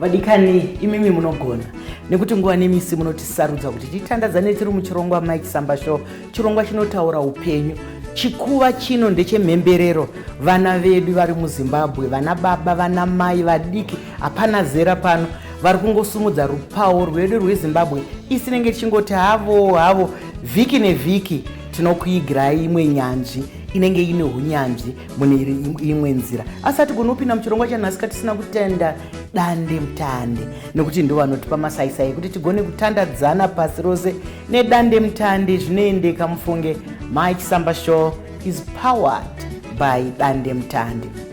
vadikani imimi munogona nekuti nguva nemisi munotisarudza kuti titandadzane tiri muchirongwa mike samba show chirongwa chinotaura upenyu chikuva chino ndechemhemberero vana vedu vari muzimbabwe vana baba vana mai vadiki hapana zera pano vari kungosumudza rupawo rwedu rwezimbabwe isinenge tichingoti havo havo vhiki nevhiki tinokuigirai imwe nyanzvi inenge ine unyanzvi mune imwe nzira asi hatigoni kupinda muchirongwa chanhasi ka tisina kutenda dande mutande nekuti ndo vanotipa masaisai ekuti tigone kutandadzana pasi rose nedande mutande zvinoendeka mufunge my chisamba show is powered by dande mutande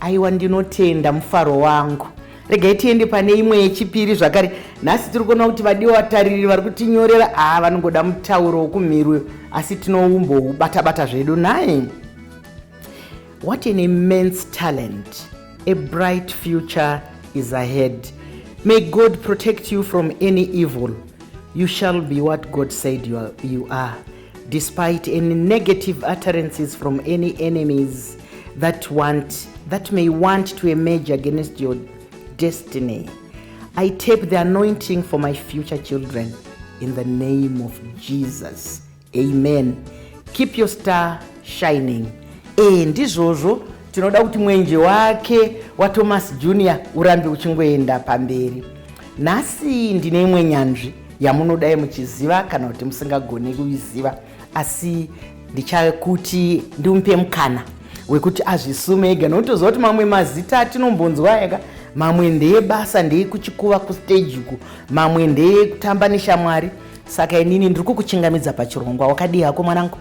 aiwa ndinotenda mufaro wangu regai tiende pane imwe yechipiri zvakare nhasi tiri kuona kuti vadiwa vatariri vari kutinyorera haa ah, vanongoda mutauro wokumhiri uyo asi tinoumboubata-bata zvedu naye what an immense talent a bright future is ahead may god protect you from any evil you shall be what god said you are, you are. despite any negative utterances from any enemies that want that may want to emerge against your destiny i tape the anointing for my future children in the name of jesus amen keep your star shining ee eh, ndizvozvo tinoda kuti mwenje wake wathomas junior urambe uchingoenda pamberi Nhasi ndine imwe nyanzvi yamunodai muchiziva kana kuti musingagone kuiziva asi ndichakuti ndimupe mukana wekuti azvisume ega nokuti toziva kuti mamwe mazita atinombonzwa ega mamwe ndeye basa ndeye kuchikuva kustage uku mamwe ndeye kutamba neshamwari saka inini ndiri kukuchingamidza pachirongwa wakadii hako mwanangu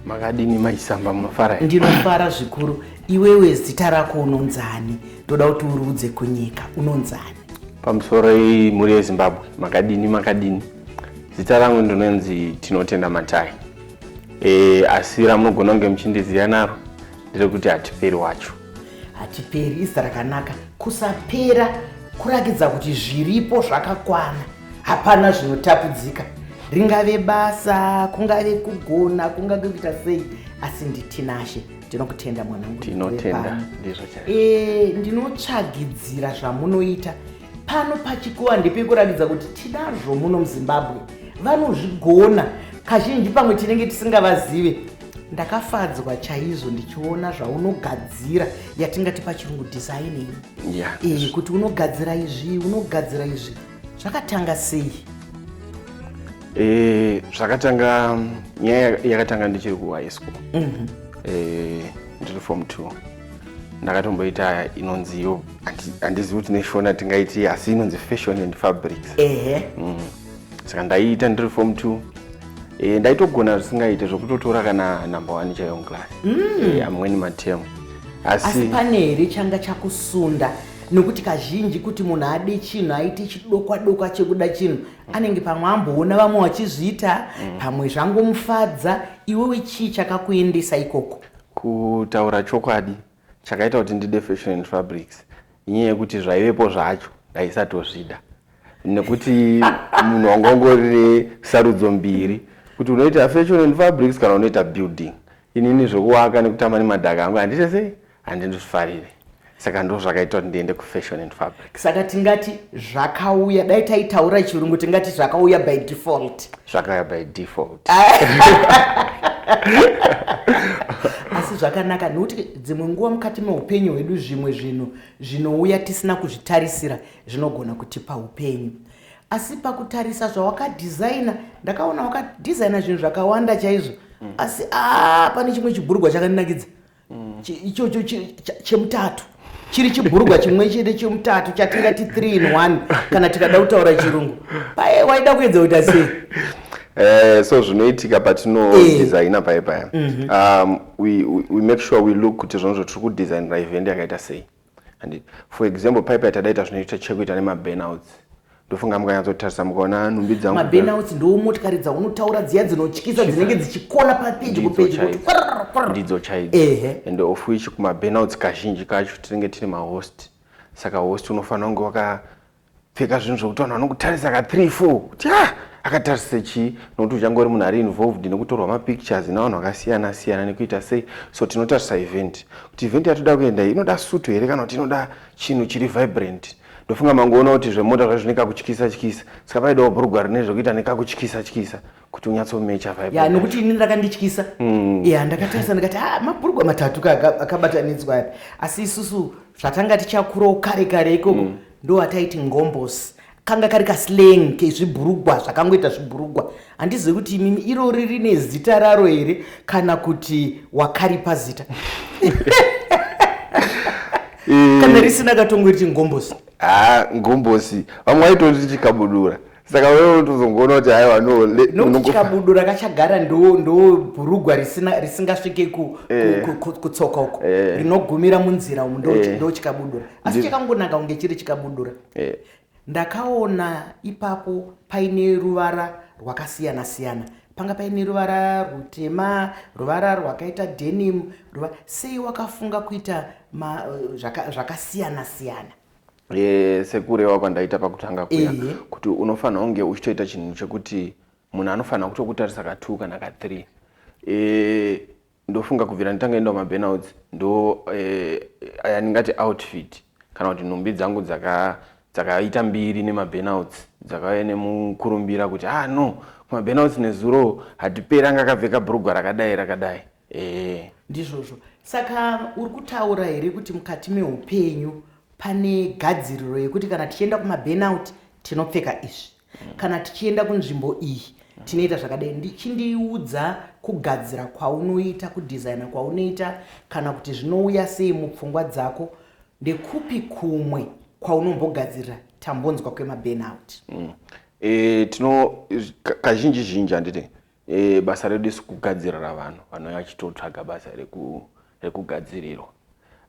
makadini maisamba munofara ndinofara zvikuru iwewe zita rako unonzani ndoda kuti uruudze kunyika unonzani pamusoro iyi mhuri yezimbabwe makadini makadini zita rangu ndinonzi tinotenda matai e, asi ramunogona kunge muchindiziva naro ndiri kuti hatiperi wacho hatiperi izita rakanaka kusapera kurakidza kuti zviripo zvakakwana hapana zvinotapudzika ringave basa kungave kugona kungave kuita sei asi nditinashe tinokutenda mwanangu tinotenda ndizvo chaizvo e, ndinotsvagidzira zvamunoita pano pachikuwa ndepekuratidza kuti tinazvo muno muzimbabwe vanozvigona kazhinji pamwe tinenge tisingavazive ndakafadzwa chaizvo ndichiona zvaunogadzira yatingati pachirungu designing yeah, e, kuti unogadzira izvi unogadzira izvi zvakatanga sei eh, zvakatanga nyaya yakatanga ndichiri kuhigh school mhm. eh, ndiri form two ndakatomboita inonzi yo handizivi kuti neshona tingaiti asi inonzi fashion and fabrics ehe mm. saka ndaiita ndiri form two e, ndaitogona zvisingaite zvokutotora kana number one chaiyo muclass mm. e, amweni matemu asi pane here changa chakusunda nokuti kazhinji kuti munhu ade chinhu aite chidokwa dokwa chekuda chinhu anenge pamwe amboona vamwe vachizviita mm. pamwe zvangomufadza iwewe chii chakakuendesa ikoko kutaura chokwadi chakaita kuti ndide fashion and fabrics inyaya yekuti zvaivepo zvacho ndaisatozvida nekuti munhu wanga ungori nesarudzo mbiri kuti unoita fashion and fabrics kana unoita building inini zvekuwaka nekutamba nemadhaka angu handite sei handindozvifarire saka ndo zvakaita kuti ndiende kufashion and fabric saka tingati zvakauya dai taitaura chirungu tingati zvakauya by default zvakauya by default asi zvakanaka nekuti dzimwe nguva mukati meupenyu hwedu zvimwe zvinhu zvinouya tisina kuzvitarisira zvinogona kutipa upenyu Asi pakutarisa zvawakadesigner ndakaona wakadesigner zvinhu zvakawanda chaizvo mm. asi aa pane chimwe chibhurugwa chakandinakidza mm. ichocho chemutatu chiri chibhurugwa chimwe chete chemutatu chatingati 3 in 1 kana tikada kutaura chirungu paye waida kuedza kuita sei Eh, so zvinoitika patinodesigna eh. paye paya mhm. um, we, we, we make sure we look kuti zvinhu zvatiri kudesigner event yakaita sei and for example paipa yatadaita zvinoita chekuita nemaburnouts ndofunga mukanyatsotarisa mukaona nhumbi dzangumaburnouts ndoo motikari dzaunotaura dziya dzinotyisa dzinenge dzichikona papeji kupeji ndidzo chaidzo and of which kumaburnouts kazhinji kacho tinenge tiri mahost saka host unofanira kunge waka pfeka zvinhu zvekuti vanhu vanokutarisa ka 3 4 kuti ah akatarisa chii nokuti uchangori munhu ari involved nekutorwa mapictures navanhu vakasiyana siyana nekuita sei so tinotarisa event kuti event yatoda kuenda inoda suto here kana kuti inoda chinhu chiri vibrant ndofunga mangoona kuti zvemota zvaizvine kakutyisa tyisa saka paidawo bhurugwa rine zvekuita nekakutyisa tyisa, tyisa. kuti unyatsomecha vaibu ya nokuti ini ndakandityisa mm. ya ndakatarisa ndikati ha ah, mabhurugwa matatu akabatanidzwa api asi isusu zvatanga tichakurawo kare kare ikoko mm. ndo ataiti ngombos kanga kari kasleng kezvibhurugwa zvakangoita zvibhurugwa handizivi kuti imimi irori rine zita raro here kana kuti wakaripa zita eh. kana risina katongo riti ngombosi ha ah, ngombosi vamwe vaitoti chikabudura saka wewe unotozongoona kuti haiwa no nokuti kabudu rakachagara ndo ndo bhurugwa risina risingasvike ku, eh. ku, ku, kutsoka uko eh. rinogumira munzira umu ndo eh. ndo chikabudura asi chakangonaka kunge chiri chikabudura eh. ndakaona ipapo paine ruvara rwakasiyana siyana panga paine ruvara rutema ruvara rwakaita denim ruva sei wakafunga kuita zvakasiyana siyana sekureva kwandaita pakutanga kuya kuti unofanira kunge uchitoita chinhu chekuti munhu anofanira kutokutarisa katwo kana kathree ndofunga kubvira nditanga enda kumaburnouts ndo eh, aya ndingati outfit kana kuti nhumbi dzangu dzakaita mbiri nemaburnouts dzakauya nemukurumbira kuti ah no kumaburnouts nezuro hatiperi anga akapfeka brugwa rakadai rakadai ehe ndizvozvo saka uri kutaura here kuti mukati meupenyu pane gadziriro yekuti kana tichienda kumaburnout tinopfeka izvi mm. kana tichienda kunzvimbo iyi tinoita zvakadai ndichindiudza kugadzira kwaunoita kudesigna kwaunoita kana kuti zvinouya sei mupfungwa dzako ndekupi kumwe kwaunombogadzirira tambonzwa kwemaburnout mm. e, tino kazhinji zhinji handiti E, basa redu isu kugadzirira vanhu vanouya vachitotsvaga basa rekugadzirirwa reku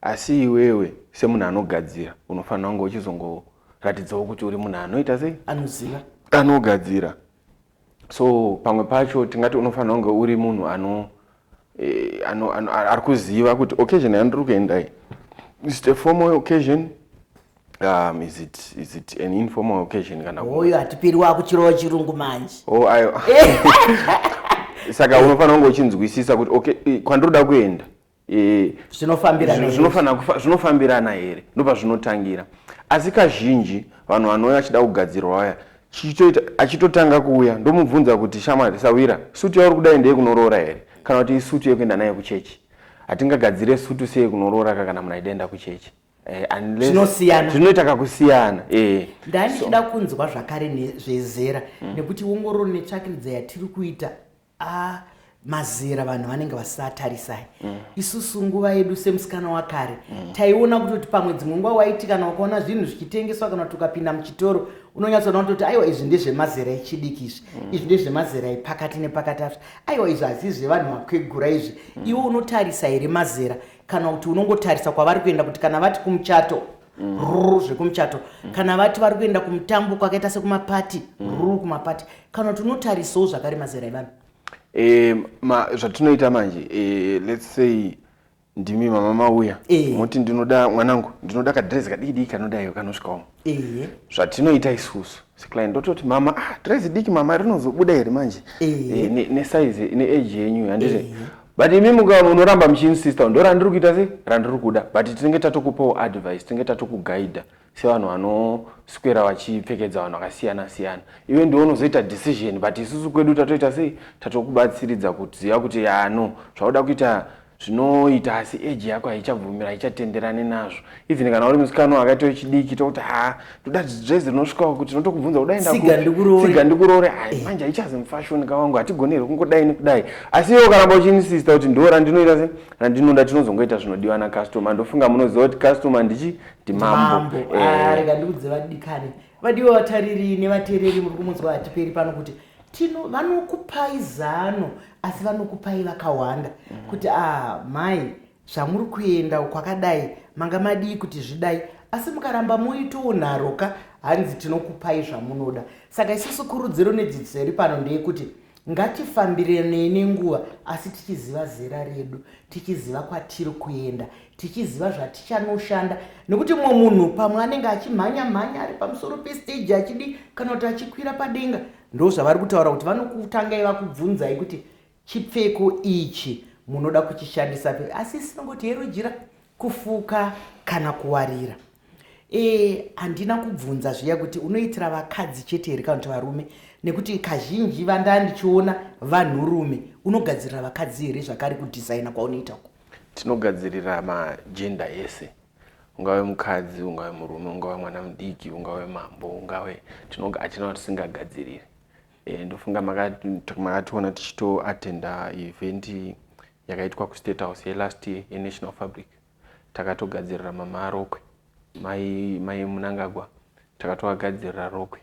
asi iwewe semunhu anogadzira unofanira kunge uchizongoratidzawo kuti uri munhu anoita sei anoziva anogadzira so pamwe pacho tingati unofanira kunge uri munhu ano eh, ano, ano, ari kuziva kuti occasion yandiri kuenda iyi is it a formal occasion um, is it, is it an informal occasion kana oyo hatipiri wakuchirowa chirungu manje oh, ayo saka unofanira kunge uchinzwisisa kuti okay eh, kwandiri kuda kuenda eh, zvinofambirana here ndopazvinotangira asi kazhinji vanhu vanouya vachida kugadzirwa vaya Chichitoita achitotanga kuuya ndomubvunza kuti shamwari sahwira sutu yauri kudai ndeye kunoroora here kana kuti isutu yekuenda nayo kuchechi hatingagadzire sutu seye kunoroora ka kana munhu aida enda kuchechi Eh, zvinosiyana zvinoita kakusiyana eh. ndandichida kunzwa zvakare zvezera mm. nekuti ongororo netsvakiridza yatiri kuita ah, mazera vanhu vanenge vasatarisai mm. isusu nguva yedu semusikana wakare mm. taiona kutoti pamwe dzimwe nguva waiti kana wakaona zvinhu zvichitengeswa kana kuti ukapinda muchitoro unonyatsoona kutoti aiwa izvi ndezvemazera echidiki izvi mm. izvi ndezvemazera epakati nepakati azvo aiwa izvi hazii zvevanhu makwegura izvi mm. iwe unotarisa here mazera kana kuti unongotarisa kwavari kuenda kuti kana vati kumuchato mm. ruru zvekumuchato mm. kana vati vari kuenda kumutambo kwakaita sekumapati mm. ruru kumapati kana kuti unotarisawo zvakare mazera evanhu e, ma, zvatinoita manje e, let's say ndimi mama mauya e. moti ndinoda mwanangu ndinoda kadresi kadikidiki kanodaiwo kanosvikawo e. zvatinoita isusu Sekly ndototi mama ah dress diki mama rinozobuda here manje e, ne, ne size ne age yenyu handiti e. but imi muka munoramba muchiinsista ndo randiri kuita se randiri kuda but tinenge tatokupawo advice tinenge tatokuguida sevanhu vanoswera vachipfekedza vanhu vakasiyana siyana iwe ndiwe unozoita decision but isusu kwedu tatoita sei tatokubatsiridza kuziva kuti yano zvauda kuita ah, zvinoita asi age yako haichabvumira haichatenderani nazvo even kana uri musikana wakaita wechidiki tokuti ha ndoda dress rinosvikawo kuti ndinotokubvunza kudaendatsiga ndikuroore hai eh. manje haichazi mufashoni ka wangu hatigoni here kungodai nekudai asi iwo karamba uchiinsista kuti ndo randinoita se randinoda tinozongoita zvinodiwa nacustomer ndofunga munoziva kuti customer ndichi ndimambo eh. ah, rega ndikudzeva dikane vadiwa vatariri nevateereri muri kumunzwa hatiperi pano kuti tino vanokupai zano asi vanokupai vakawanda mm -hmm. kuti ah, mai zvamuri kuenda kwakadai manga madii kuti zvidai asi mukaramba muitowo nharo ka hanzi tinokupai zvamunoda saka isusu kurudziro nedzidziso iri pano ndeyekuti Ngatifambirenei nenguva asi tichiziva zera redu, tichiziva kwatiri kuenda, tichiziva zvatichanoshanda nekuti mumwe munhu pamwe anenge achimhanya mhanya ari pamusoro pestage achidi kana kuti achikwira padenga ndozvavari kutaura kuti vanokutangai vakubvunzai kuti chipfeko ichi munoda kuchishandisa pe asi sinongoti hero jira kufuka kana kuwarira e handina kubvunza zviya kuti unoitira vakadzi chete here kana kuti varume nekuti kazhinji vandaa ndichiona vanhurume unogadzirira vakadzi here zvakari kudhizaina kwaunoita uko tinogadzirira majenda ese ungave mukadzi ungave murume ungave mwana mudiki ungave mambo ungave hatina kuti tisingagadziriri e, ndofunga makationa tichitoatenda eventi yakaitwa kustate house yelast year yenational fabric takatogadzirira mama arokwe mai mai munangagwa takatovagadzirira rokwe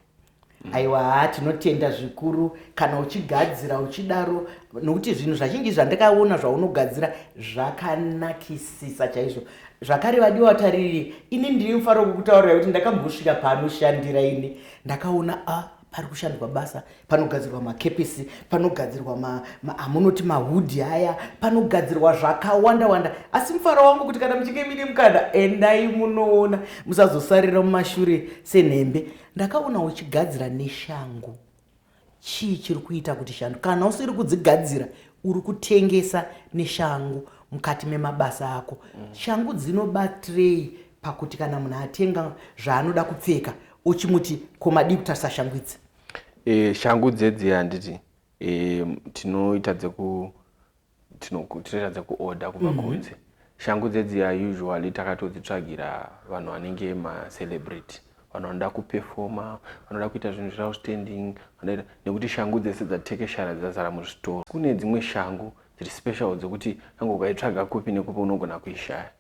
mm. aiwa haa tinotenda zvikuru kana uchigadzira uchidaro nokuti zvinhu zvazhinji zvandakaona zvaunogadzira zvakanakisisa chaizvo zvakare vadiwa tariri ini ndiri mufaro wekukutaurira kuti ndakambosvika paanoshandira ini ndakaona a ah, pari kushandwa basa panogadzirwa makepisi panogadzirwa amunoti ma, mahudhi aya panogadzirwa zvakawanda wanda asi mufaro wangu kuti kana muchinge mine mukana endai munoona musazosarira mumashure senhembe ndakaona uchigadzira neshangu chii chiri kuita kuti shangu kana usiri kudzigadzira uri kutengesa neshangu mukati memabasa ako mm. shangu dzinobatirei pakuti kana munhu atenga zvaanoda kupfeka uchimuti ko madii kutarisa shangu idzi e, shangu dzedzi handiti e, tinoita dzeku tinoita dzekuorder kubva mm -hmm. kunze shangu dzedziya usually takatodzitsvagira vanhu vanenge macelebrity vanhu vanoda kupefoma vanoda kuita zvinhu zveoutstanding vanoita nekuti shangu dzese dzatekeshara dzazara muzvitoro kune dzimwe shangu dziri special dzekuti kange ukaitsvaga kupi nekupi unogona kuishaya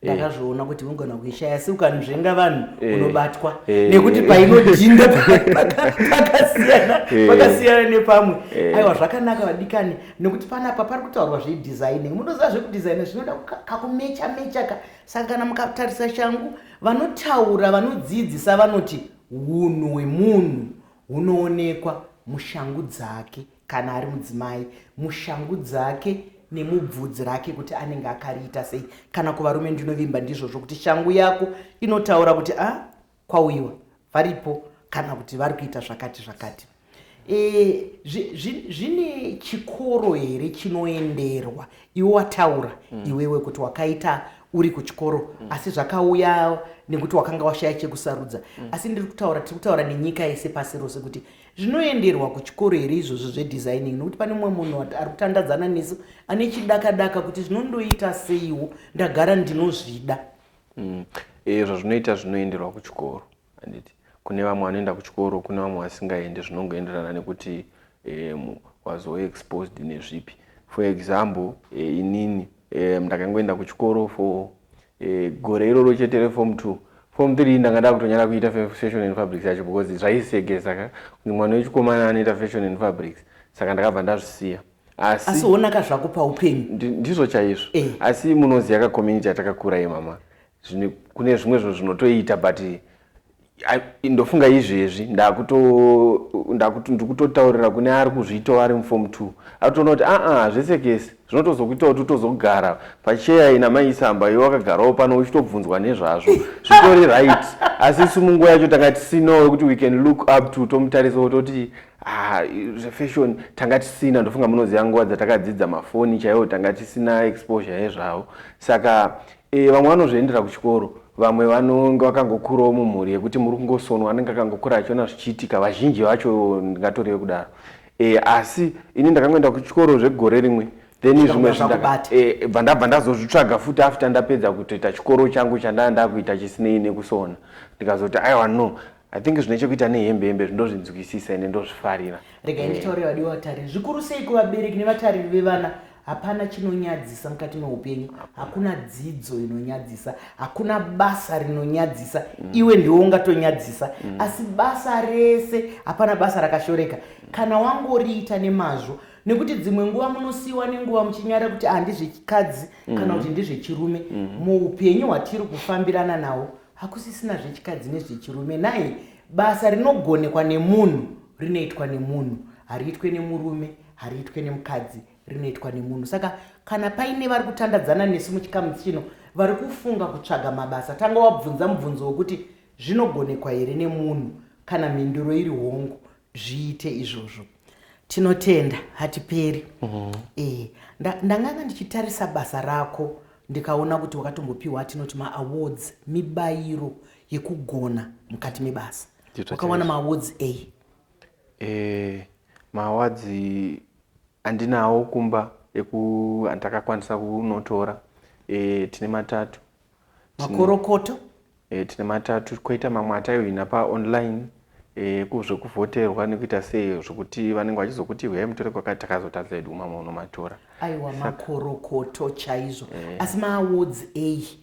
ndakazviona kuti unogona kuishaya asi ukanzvenga vanhu eh. unobatwa eh. nekuti painodhinda pakasiyana eh. pakasiyana nepamwe aiwa zvakanaka vadikani nekuti panapa pari kutaurwa zvedesigning munoziva zvekudesigna zvinoda kakumecha mecha ka saka kana mukatarisa shangu vanotaura vanodzidzisa vanoti unhu hwemunhu hunoonekwa mushangu dzake kana ari mudzimai mushangu dzake nemubvudzi rake kuti anenge akariita sei kana kuvarume ndinovimba ndizvozvo kuti shangu yako inotaura kuti a ah, kwauyiwa varipo kana kuti vari kuita zvakati zvakati e, zvine chikoro here chinoenderwa iwe wataura mm. iwewe kuti wakaita uri kuchikoro mm. asi zvakauya nekuti wakanga washaya chekusarudza mm. asi ndiri kutaura tiri kutaura nenyika yese pasi rose kuti zvinoenderwa kuchikoro here izvozvo zvedesigning nokuti pane mumwe munhu ari kutandadzana nesu ane chidakadaka kuti zvinondoita seiwo ndagara ndinozvida mm. eh, izvo zvinoita zvinoenderwa kuchikoro anditi kune vamwe vanoenda kuchikoro kune vamwe vasingaendi zvinongoenderana nekuti eh, wazove exposed nezvipi for example eh, inini ndakangoenda kuchikoro for eh, gore iroro chete reform two form three ndanga ndakutonyara kuita fashion and fabrics yacho because zvaisegesa ka kuti mwana wechikomana anoita fashion and fabrics saka ndakabva ndazvisiya asi wonaka zvako paupenyu ndizvo chaizvo eh. asi munoziva ka community yatakakura ye mama kune zvimwe zvinhu zvinotoita but ndofunga izvezvi ndikutotaurira kune ari kuzviitawo ari muform two atoona kuti aa zvese kese zvinotozokuita kuti utozogara pacheya ina maisamba iwe wakagarawo pano uchitobvunzwa nezvazvo zvitori right asi isu munguva yacho tanga tisina wekuti we can look up to tomutarisa wototi ah, zvefashion tanga tisina ndofunga munoziva nguva dzatakadzidza mafoni chaiwo tanga tisina exposure yezvavo saka eh, vamwe vanozviendera kuchikoro Vamwe vanonge vakangokurawo mumhuri yekuti muri kungosonwa anenge akangokura achiona zvichiitika vazhinji vacho ndingatore vekudaro e, asi ini ndakangoenda kuchikoro zvegore rimwe then zvimwe zvibva ndabva ndazozvitsvaga futi after ndapedza kutoita chikoro changu chandanga ndakuita chisinei nekusona ndikazoti aiwa no I think zvine chekuita nehembe hembe zvindozvinzwisisa ende ndozvifarira rega nditaure eh. vadiwa vatariri zvikuru sei kuvabereki nevatariri vevana hapana chinonyadzisa mukati meupenyu hakuna dzidzo inonyadzisa hakuna basa rinonyadzisa mm. iwe ndiwo ungatonyadzisa mm. asi basa rese hapana basa rakashoreka kana wangoriita nemazvo nekuti dzimwe nguva munosiyiwa nenguva muchinyara kuti handizvechikadzi mm. kana kuti ndizvechirume muupenyu hwatiri kufambirana nawo Hakusisina zvechikadzi nezvechirume nhai. Basa rinogonekwa nemunhu rinoitwa nemunhu, hariitwe nemurume, hariitwe nemukadzi, rinoitwa nemunhu. Saka kana paine vari kutandadzana nesu muchikamu chino vari kufunga kutsvaga mabasa, tanga wabvunza mubvunzo wekuti zvinogonekwa here nemunhu? Kana mhinduro iri hongu, zviite izvozvo tinotenda hatiperi mm -hmm. e, nda, ndanganga ndichitarisa basa rako ndikaona kuti wakatombopiwa atinoti maawards mibayiro yekugona mukati mebasa wakawana maawards ei e, maawards andinawo kumba eku andakakwanisa kunotora e, tine matatu makorokoto e, tine matatu koita mamwe ataiwina paonline e, kuzvekuvhoterwa nekuita sei zvekuti vanenge vachizokuti huyai mutore kwakati takazotadza edu mamwe unomatora aiwa makorokoto chaizvo e. asi maawards ei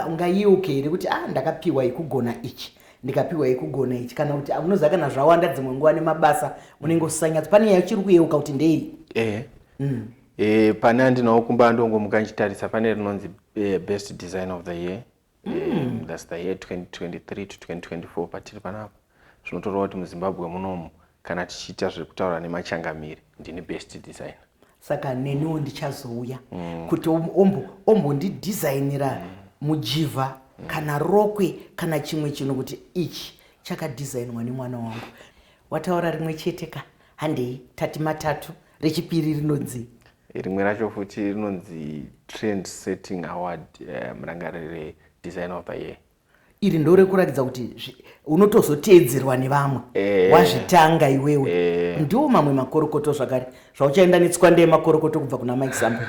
ungayeuke here kuti a ah, ndakapiwa yekugona ichi ndikapiwa yekugona ichi kana kuti unoziva kana zvawanda dzimwe nguva nemabasa unenge usisanyatso pane yachiri kuyeuka kuti ndei e. mm. E, pane andinawo kumba andongomuka ndichitarisa pane rinonzi e, best design of the year mm. e, thats the year 2023 to 2024 patiri panapa zvinotoreva kuti muzimbabwe munomu kana tichiita zvekutaura nemachangamiri ndini best designer saka neniwo ndichazouya mm. kuti ombondidesignira mm. mujivha mm. kana rokwe kana chimwe chinhu kuti ichi chakadesignwa nemwana wangu wataura rimwe chete ka handei tati matatu rechipiri rinonzi rimwe racho futi rinonzi trend setting award eh, murangarire um, design of the year iri ndo rekuratidza kuti unotozoteedzerwa nevamwe eh. wazvitanga iwewe eh. ndiwo mamwe makorokoto zvakare zvauchaenda netswanda yemakorokoto kubva kuna mike sambo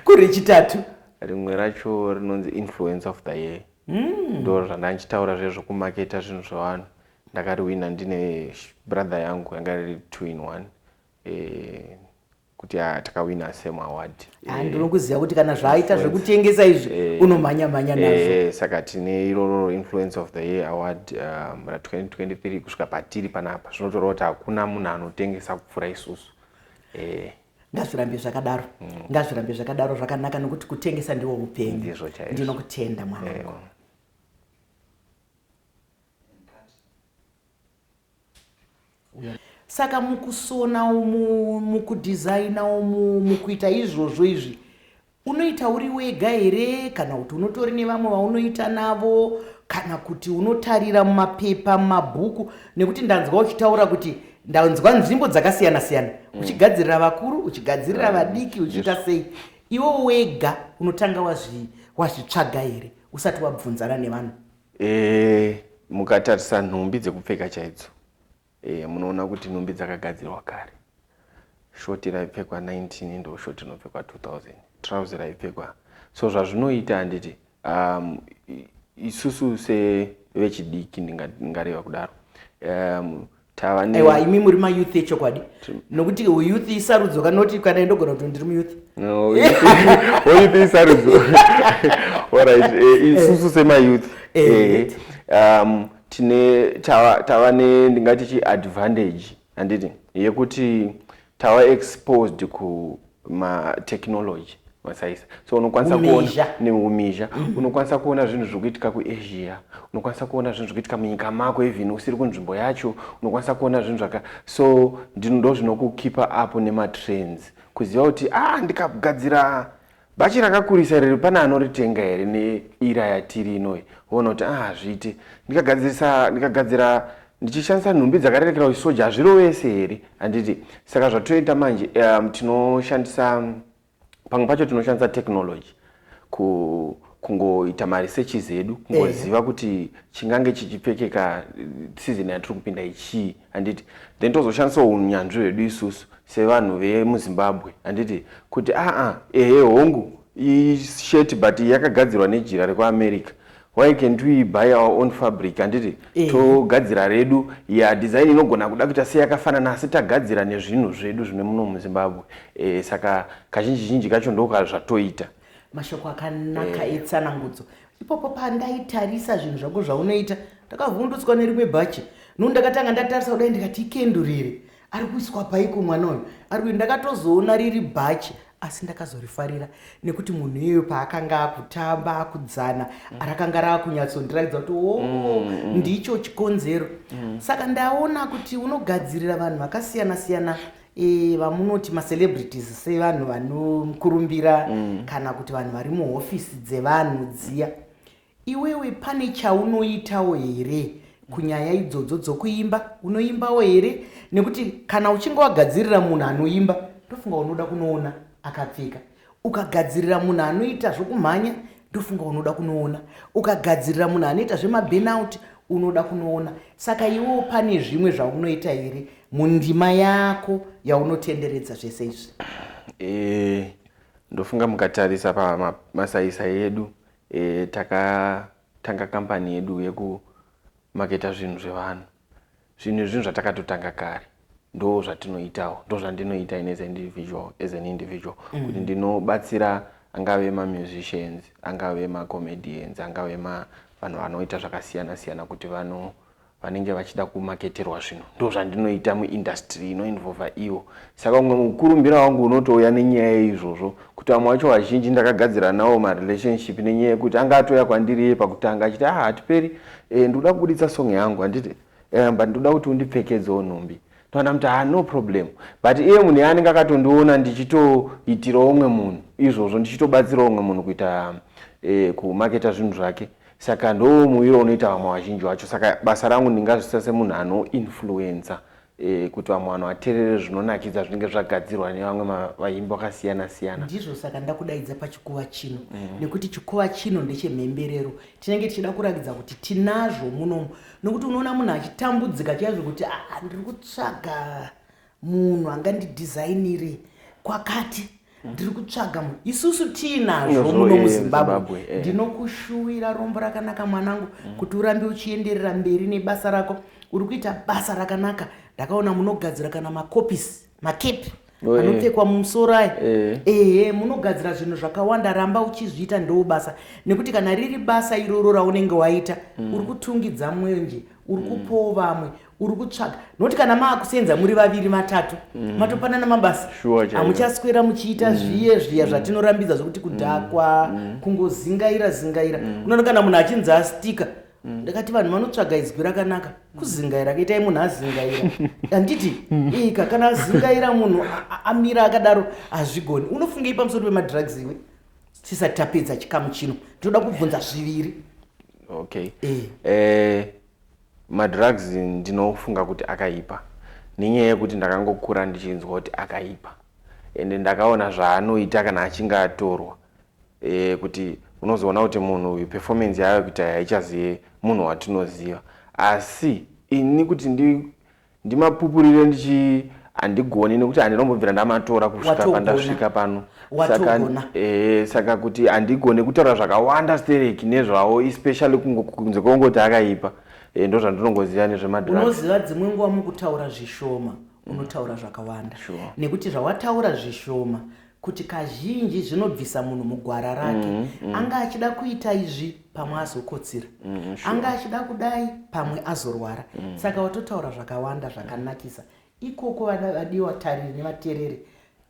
kuri chitatu rimwe racho rinonzi influence of the year hmm. ndo mm. zvandandichitaura zvezvokumaketa zvinhu zvevanhu ndakariwina ndine brother yangu yanga riri two in one eh, kuti ah, takawina same award ah, eh, ndinokuziva kuti kana zvaaita zvekutengesa izvi eh, unomhanya mhanya nazvo saka tine iroro influence of the year award um, ra 2023 kusvika patiri panapa zvinotoreva kuti hakuna munhu anotengesa kupfuura isusu ngazvirambe zvakadaro mm. ngazvirambe zvakadaro zvakanaka nokuti kutengesa ndiwo upenyu ndinokutenda mwanangu saka mukusona umu mukudhizaina umu mukuita izvozvo izvi unoita uri wega here kana kuti unotori nevamwe vaunoita navo kana kuti unotarira mumapepa mumabhuku nekuti ndanzwa uchitaura kuti ndanzwa nzvimbo dzakasiyana siyana mm. uchigadzirira vakuru uchigadzirira mm. vadiki uchiita sei iwo wega unotanga wazvitsvaga here usati wabvunzana nevanhu E, mukatarisa nhumbi dzekupfeka chaidzo e, munoona kuti nhumbi dzakagadzirwa kare. Shoti raipfekwa 19 ndo shoti inopfekwa 2000 trouse raipfekwa so zvazvinoita handiti um, isusu sevechidiki ndingareva kudaro um, aiwa imi muri mayouth echokwadi nokuti uyouth isarudzo kanoti kana indogona kuti ndiri muyouth oyouth isarudzo orit eh, eh. isusu semayouth eh, um, tine tava ne ndingati chiadvantage handiti yekuti tava exposed matechnology masaisa so unokwanisa kuona neumizha mm. unokwanisa kuona zvinhu zviri kuitika kuasia unokwanisa kuona zvinhu zviri kuitika munyika mako even usiri kunzvimbo yacho unokwanisa kuona zvinhu zvaka so ndinodo zvinokukipa apo nematrends kuziva kuti a ah, ndikagadzira bhachi rakakurisa riri pane anoritenga here neira yatiri inoyi woona kuti a ah, hazviite ndikagadzirisa ndikagadzira ndichishandisa nhumbi dzakarerekera uchisoja hazvirovese here handiti saka zvatoita manje um, tinoshandisa um, pamwe pacho tinoshandisa technology ku kungoita maresearches edu kungoziva eh. kuti chingange chichipfekeka eh, season yatiri kupinda ichii handiti then tozoshandisawo unyanzvi hwedu isusu sevanhu vemuzimbabwe handiti kuti aa ah, ah, ehe hongu isheti but yakagadzirwa nejira rekuamerica why can't we buy our own fabric handiti eh. togadzira redu ya design inogona kuda kuita seyakafanana asi tagadzira nezvinhu zvedu zvine muno muzimbabwe eh, saka kazhinji zhinji kacho ndoka zvatoita mashoko akanaka eh. etsanangudzo ipopo pandaitarisa zvinhu zvako zvaunoita ndakavhundutswa nerimwe bhachi nuu ndakatanga ndatarisa kudai ndikati ikenduriri ari kuiswa paiko mwana uyu ari kuti ndakatozoona riri bhachi asi ndakazorifarira nekuti munhu iyoyo paakanga akutamba akudzana mm. rakanga raakunyatsondirakidza kuti o oh, mm, mm. ndicho chikonzero saka ndaona kuti unogadzirira vanhu vakasiyana siyana e, vamunoti macelebrities sevanhu vanokurumbira kana kuti vanhu vari muhofisi dzevanhu dziya Iwewe pane chaunoitawo here kunyaya idzodzo dzokuimba? Unoimbawo here? Nekuti kana uchinge wagadzirira munhu anoimba ndofunga unoda kunoona akapfeka. Ukagadzirira munhu anoita zvokumhanya ndofunga unoda kunoona. Ukagadzirira munhu anoita zvemaburnout unoda kunoona. Saka iwewo pane zvimwe zvaunoita here mundima yako yaunotenderedza zvese izvi? Eh, ndofunga mukatarisa pamasaisai edu E, takatanga kambani yedu yekumaketa zvinhu zvevanhu. Zvinhu izvi zvinhu zvatakatotanga kare ndo zvatinoitawo ndo zvandinoita in as an individual as an individual mm. kuti ndinobatsira angave mamusicians angave macomedians angave ma vanhu vanoita zvakasiyana siyana kuti vano vanenge vachida kumaketerwa zvinhu ndo zvandinoita muindastry inoinvolva ivo saka umwe mukurumbira wangu unotouya nenyaya yeizvozvo kuti vamwe vacho vazhinji ndakagadzira nawo marelationship nenyaya yekuti anga atouya kwandiri iye pakutanga achiti ah hatiperi e, ndikuda kubuditsa song yangu handiti eh, but ndikuda kuti undipfekedzewo nhumbi toona kuti ah no problem but iye munhu yaanenge akatondiona ndichitoitirawo umwe munhu izvozvo ndichitobatsirawo umwe munhu kuita eh, kumaketa zvinhu zvake Saka ndoo muwiro unoita vamwe vazhinji vacho. Saka basa rangu ndingazvisa semunhu anoinfluencer eh, kuti vamwe vanhu vaterere zvinonakidza zvinenge zvagadzirwa nevamwe vaimbi vakasiyana siyana. Ndizvo saka ndakudaidza pachikuva chino mm. nekuti chikuva chino ndechemhemberero tinenge tichida kurakidza kuti tinazvo munomu nokuti unoona munhu achitambudzika chaizvo kuti ah, ndiri kutsvaga munhu angandidhizainire kwakati ndiri kutsvaga mu isusu tiinazvo muno muzimbabwe eh, eh. ndinokushuwira rombo rakanaka mwanangu mm. kuti urambe uchienderera mberi nebasa rako uri kuita basa rakanaka ndakaona munogadzira kana makopisi makepi oh, eh. anopfekwa mumusoro ayi ehe munogadzira zvinhu zvakawanda ramba uchizviita ndoo basa nekuti kana riri basa iroro raunenge waita mm. uri kutungidza mwenje uri mm. kupowo vamwe uri kutsvaga nokuti kana maakusenza muri vaviri vatatu mm. matopanana mabasa hamuchaswera muchiita mm. zviye zviya mm. zvatinorambidza zvokuti kudhakwa mm. mm. kungozingaira zingaira mm. unoona kana munhu achinzi astika mm. ndakati vanhu vanotsvaga izwi rakanaka kuzingaira kaitai munhu azingaira handiti mm. ika kana azingaira munhu amira akadaro hazvigoni unofungei pamusoro pemadrugs iwe tisati tapedza chikamu chino tinoda kubvunza zviviri okay. e. e Madrugs ndinofunga kuti akaipa nenyaya yekuti ndakangokura ndichinzwa kuti akaipa ende ndakaona zvaanoita kana achinge atorwa e, kuti unozoona kuti munhu uyu performance yaave kuita haichazive munhu watinoziva asi ini kuti ndi ndimapupurire ndichi handigoni nekuti handinombobvira ndamatora kusvika pandasvika pano saka eh, saka kuti handigone kutaura zvakawanda stereki nezvawo especially kunze kwongoti akaipa eh, ndo zvandinongoziva nezvemadraunoziva dzimwe nguva mukutaura zvishoma mm. unotaura zvakawanda nekuti zvawataura zvishoma kuti kazhinji zvinobvisa munhu mugwara rake mm -hmm. anga achida kuita izvi pamwe azokotsira mm -hmm, sure. anga achida kudai pamwe azorwara mm -hmm. saka watotaura zvakawanda zvakanakisa ikoko vadiwa tariri nevatereri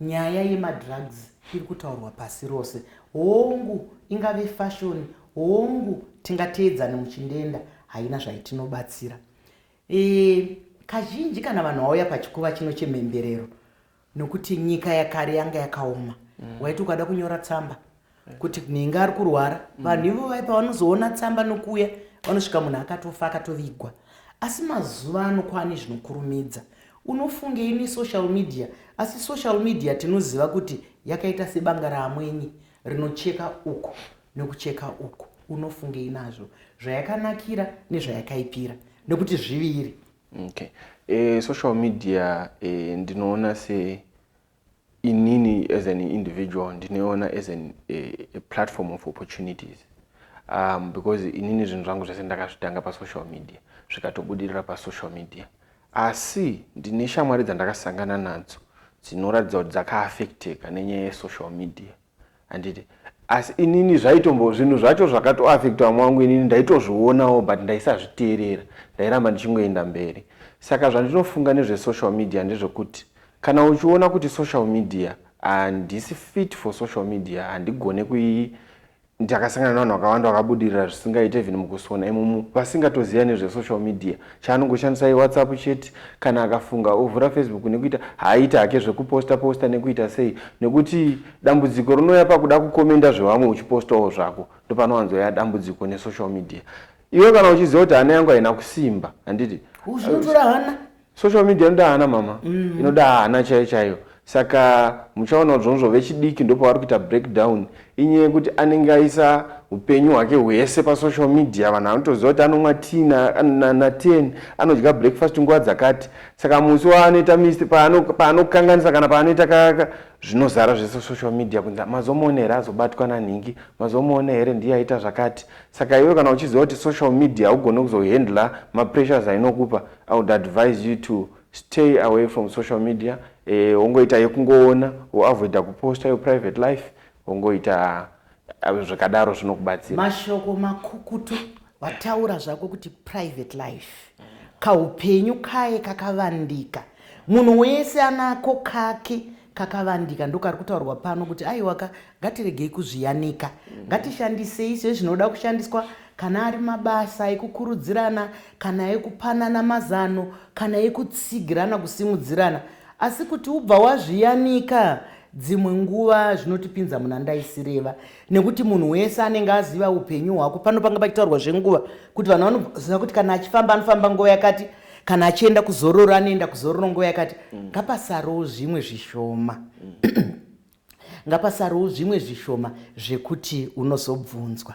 nyaya yemadrugs iri kutaurwa pasi rose hongu ingave fashoni hongu tingateedzane muchindenda haina zvaitinobatsira e, kazhinji kana vanhu vauya pachikuva chino chemhemberero nokuti nyika yakare yanga yakaoma mm. waiti ukada kunyora tsamba kuti nhinga ari kurwara mm. vanhu ivo vai pavanozoona tsamba nokuuya vanosvika munhu akatofa akatovigwa asi mazuva ano kwaane zvinokurumidza unofungei nesocial media asi social media tinoziva kuti yakaita sebanga raamwenyi rinocheka uku nokucheka uku unofungei nazvo zvayakanakira nezvayakaipira nokuti zviviri Okay. E, social media e, ndinoona se inini as an individual ndinoona as an, e, a platform of opportunities um, because inini zvinhu zvangu zvese ndakazvitanga pasocial media zvikatobudirira pasocial media asi ndine shamwari dzandakasangana nadzo dzinoratidza kuti dzakaaffecteka nenyaya yesocial media handiti asi inini zvaitombo zvinhu zvacho zvakatoaffecta vamwe vangu inini ndaitozvionawo but ndaisazviteerera ndairamba ndichingoenda mberi saka zvandinofunga nezvesocial media ndezvekuti kana uchiona kuti social media handisi fit for social media handigone kui ndakasangana nevanhu vakawanda vakabudirira zvisingaite even mukusona imomo vasingatoziva nezvesocial media chaanongoshandisa iwhatsapp chete kana akafunga ovhura facebook nekuita haaita hake zvekuposta posta nekuita sei nekuti dambudziko rinouya pakuda kukomenda zvevamwe uchipostawo zvako ndopanowanzoya dambudziko nesocial media iwe kana uchiziva kuti hana yangu haina kusimba handiti social media inoda hana mama mm. inoda hana chaiyo chaiyo Saka muchaona kuti zvonzvo vechidiki ndopavari kuita breakdown inyaya yekuti anenge aisa upenyu hwake hwese pasocial media vanhu anotoziva kuti anomwa t na 10 anodya breakfast nguva dzakati saka musi waanoita mist paanokanganisa kana paanoita kaka zvinozara zvese social media kunzi mazomuona here azobatwa nanhingi mazomuona here ndiye aita zvakati saka iwe kana uchiziva kuti social media haugone kuzohandla mapressures ainokupa i would advise you to Stay away from social media eh, wongoita yekungoona woavoida kuposta your private life wongoita eh, zvakadaro zvinokubatsira mashoko makukutu wataura zvako kuti private life kaupenyu kaye kakavandika munhu wese anako kake kakavandika ndokari kutaurwa pano kuti aiwaka ngatiregei kuzviyanika ngatishandisei sezvinoda kushandiswa kana ari mabasa ekukurudzirana kana ekupanana mazano kana ekutsigirana kusimudzirana asi kuti ubva wazviyanika dzimwe nguva zvinotipinza muna ndaisireva nekuti munhu wese anenge aziva upenyu hwako pano panga pachitaurwa zvenguva kuti vanhu vanoziva kuti kana achifamba anofamba nguva yakati kana achienda kuzororo anoenda kuzororo nguva yakati mm. ngapasarowo zvimwe zvishoma mm. ngapasarowo zvimwe zvishoma zvekuti unozobvunzwa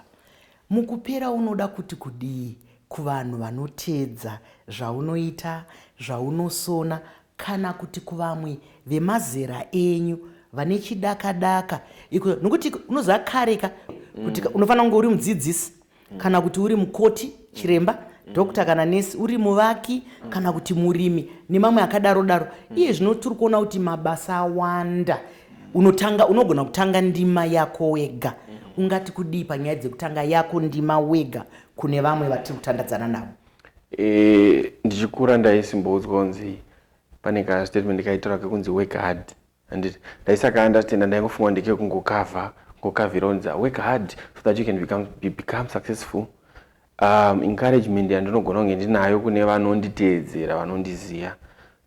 Mukupera unoda kuti kudii kuvanhu vanoteedza zvaunoita, zvaunosona kana kuti kuvamwe vemazera enyu vane chidakadaka iko nokuti unoziva kare ka kuti mm. unofanira kunge uri mudzidzisi mm. kana kuti uri mukoti chiremba mm doctor kana nesi uri muvaki kana kuti murimi nemamwe akadaro daro iye zvino tiri kuona kuti mabasa awanda unotanga unogona kutanga ndima yako wega ungati kudii panyaya dzekutanga yako ndima wega kune vamwe vatiri kutandadzana navo e, ndichikura ndaisimboudzwa kunzi pane kastatement kaitora kekunzi work hard anditi ndaisaka understanda ndaingofunga ndekekungokavha ngokavhira unzi work hard so that you can become, you become successful Um, encouragement yandinogona kunge ndinayo kune vanonditeedzera vanondiziva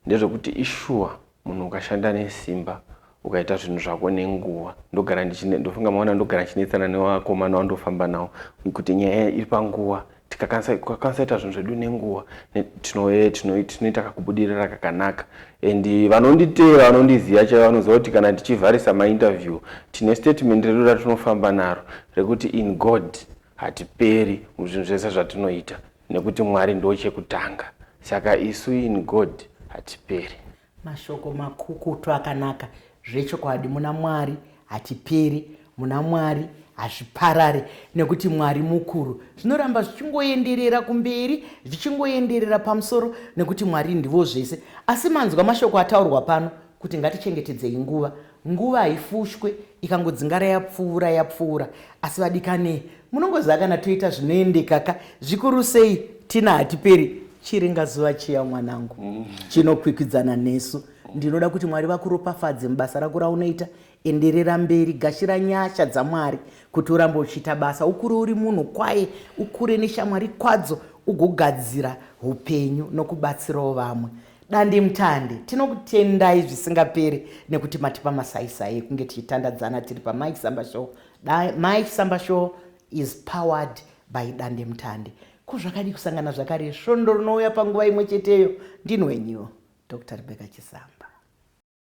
ndezvekuti ishuwa munhu ukashanda nesimba ukaita zvinhu zvako nenguva ndogara ndofunga maona ndogara ndichinetsana nevakomana wandofamba nawo kuti nyaya iri panguva tikakwanisa kuita zvinhu zvedu nenguva tinoita kakubudirira kakanaka and vanonditeera vanondiziva chaivo vanoziva kuti kana tichivharisa mainterview tine statement redu ratinofamba naro rekuti in god Hatiperi muzvinhu zvese zvatinoita nekuti Mwari ndochekutanga saka isu in God hatiperi. Mashoko makukutu akanaka zvechokwadi muna Mwari hatiperi muna Mwari hazviparare nekuti Mwari mukuru zvinoramba zvichingoenderera kumberi zvichingoenderera pamusoro nekuti Mwari ndivo zvese asi manzwa mashoko ataurwa pano kuti ngatichengetedzei nguva Nguva haifushwe ikangodzingara yapfuura yapfuura asi vadikani munongoziva kana toita zvinoendekaka zvikuru sei tina hatiperi chiringa zuva chiya mwanangu mm. chinokwikwidzana nesu ndinoda kuti mwari vakuropafadze mubasa rako raunoita enderera mberi gashira nyasha dzamwari kuti urambe uchiita basa ukure uri munhu kwaye ukure neshamwari kwadzo ugogadzira upenyu nokubatsirawo vamwe Dandemutande, tinokutendai zvisingaperi nekuti matipa masaisai ekunge tichitandadzana tiri paMike Samba Show. Da, Mike Samba Show is powered by Dandemutande. Ko zvakadii kusangana zvakare svondo rinouya panguva imwe cheteyo? Ndini wenyu, Dr Rebecca Chisamba.